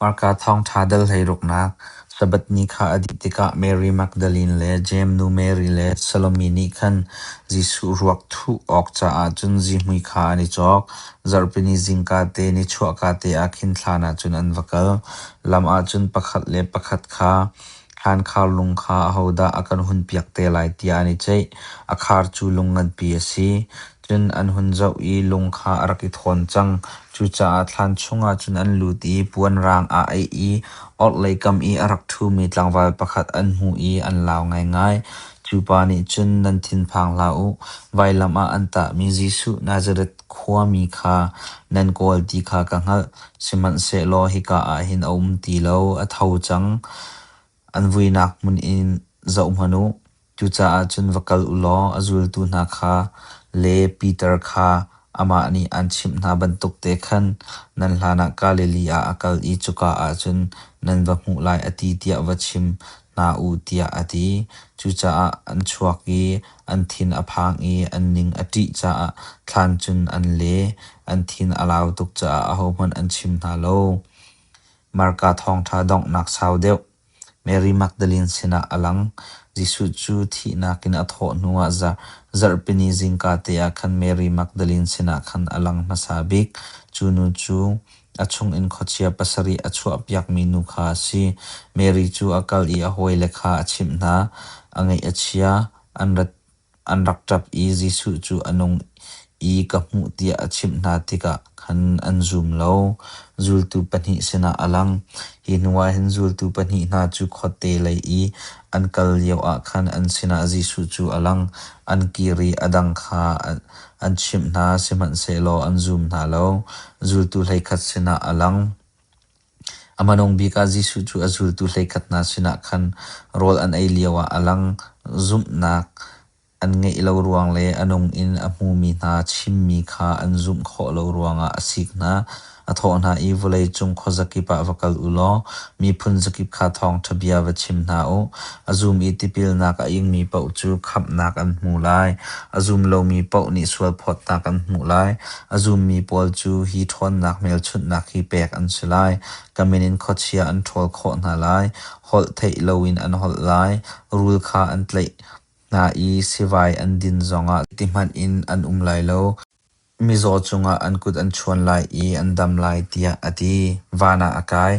Hmarka thawngṭha dal hleiruknak Sabbath ni kha a dih tikah Mary Magdalene le Jeim nu Mary le Salome nih khan Jesuh ruak thuh awk caah cun zihmui kha an i cawk. Zarhpini zingka te ni chuahka te ah khin thlan ah cun an va kal. Lam ah cun pakhat le pakhat kha Thlaankhar lung kha ahodah a kan hunpiak te lai tiah an i ceih. A khar cu lung nganpi a si. Cun an hun zoh i lung kha a rak i thawn cang. Cucaah thlaan chungah cun an lut i puanrang aa aih i orhlei kam i a rak ṭhumi tlangval pakhat an hmuh i an lau ngaingai. Cu pa nih cun, Nan thinphang hlah u. Vailam ah an tahmi Jesuh Nazareth Khuami kha nan kawl ti kha ka hngalh, sihmanhsehlaw hika ah hin a um ti lo, a tho cang. An vuinak hmun in zohhmanh u, cucaah cun va kal u law a zultu hna kha le Piter kha amah nih aan chimh hna bantuk te khan nan hlanah Galilee ah a kal i cuka ah cun nan va hmuh lai, a ti tiah va chim. hna u tiah a ti. Cucaah an chuak i an thin a phang i an ning a ṭih caah thlan cun an le, an thin a lau tuk caah ahohmanh an chim hna lo. Marka thawngṭha donghnak sau deuh Mary Magdalene sinah a lang. Jesuh cu thihnak in a thawh hnuah zarhpini zingka te ah khan Mary Magdalene sinah khan a lang hmasa bik. Cu nu cu A chungin khuachia pasarih a chuahpiakmi nu kha a si. Mary cu a kal i a hawile kha a chimh hna. A ngaih a chia. An rak ṭap i Jesuh cu a nung i ka hmuh tiah a chimh hna tikah khan an zum lo. Zultu pahnih sinah a lang. Hi hnuah hin zultu pahnih hna cu khuate lei i an kal lioah khan an sinah Jesuh cu a lang. An kir i a dang kha An chimh hna, sihmanhsehlaw an zum hna lo. Zultu hleikhat sinah a lang. A hmanung bik ah Jesuh cu a zultu hleikhat hna sinah khan rawl an ei lioah a lang. Zumhnak an ngeih lo ruang le a nung in a hmumi hna chimmi kha an zumh khawh lo ruangah a sik hna. A thawh hna i, Vawleicung khuazakip ah va kal u law miphun zakip kha thawngṭha bia va chim hna u. A zum i tipilnak a ingmi paoh cu khamhnak an hmu lai, a zum lomi paoh nih sualphawtnak an hmuh lai. A zummi pawl cu hi ṭhawnnak hmelchunhnak hi pek an si lai, ka min in khuachia an ṭhawl khawh hna lai, holh theih loin an holh lai, rul kha an tlaih hna i sivai an din zongah, ti hmanh in an um lai lo. Mizaw cungah an kut an chuan lai i an dam lai tiah a ti. Van ah a kai.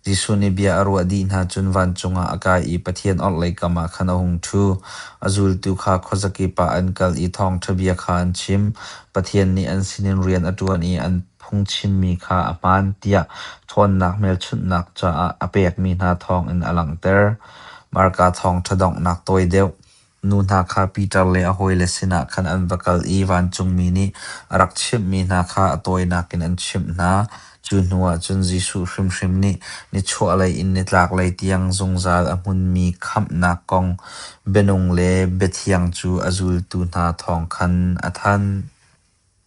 Jesuh nih bia a ruah dih hna cun vancung ah a kai i Pathian orhlei kam ah khan a hung ṭhu. A zultu kha khuazakip ah an kal i thawngṭha bia kha an chim. Pathian nih an sinin rian a ṭuan i an phungchimmi kha a hmaan tiah ṭhawnnak hmelchunhnak caah a pekmi hna thawngin a langhter. Marka thawngṭha donghnak tawi deuh. Nu hna kha Peter le a hawile sinah khan an va kal i vancungmi nih a rak chimhmi hna kha a tawinak in an chimh hna. Cu hnuah cun Jesuh hrimhrim nih nichuahlei in nitlaklei tiang zungzal a hmunmi khamhnak kong bianung le biathiang cu a zultu hna thawng khan a thanh.